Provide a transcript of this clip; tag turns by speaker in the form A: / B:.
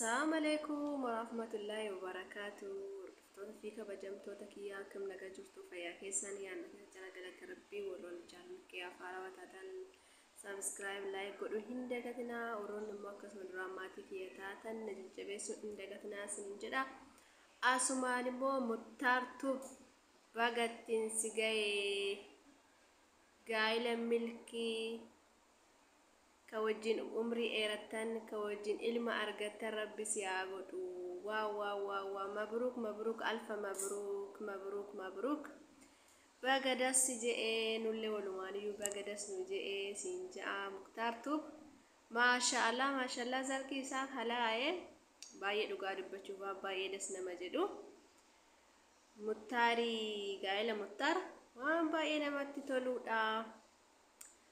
A: Assaamaleekum warahmatullahi wabarakatu hordoftoota fi kabajamtoota kiyyaa akkam nagaa jirtu fayyaa keessan yaa nagaa jira galata rabbii warroonni channel kiyyaa faarawa taatan subscribe like godhu hin dagatinaa warroonni immoo akkasuma duraan maatii kiyya taatan na jajjabeessu hin dagatinaa sin jedha asumaan immoo muttaartu bagattiin si ga'ee gaa'ila milkii ka wajjin umrii dheerattan ka wajjin ilma argattan rabbi si haa godhu wwwww mabruk mabruk alfa mabruk mabruk mabruk baga das si je'e nulle walumaaniyyu baga das nu je'e siin ja'a muktar tube maashaallah maashaallah zarki isaa kalaa'e baay'ee dhugaa dubbachuuf waan baay'ee das nama jedhu muttaarii gaa'ela muttar waan baay'ee namatti toluudha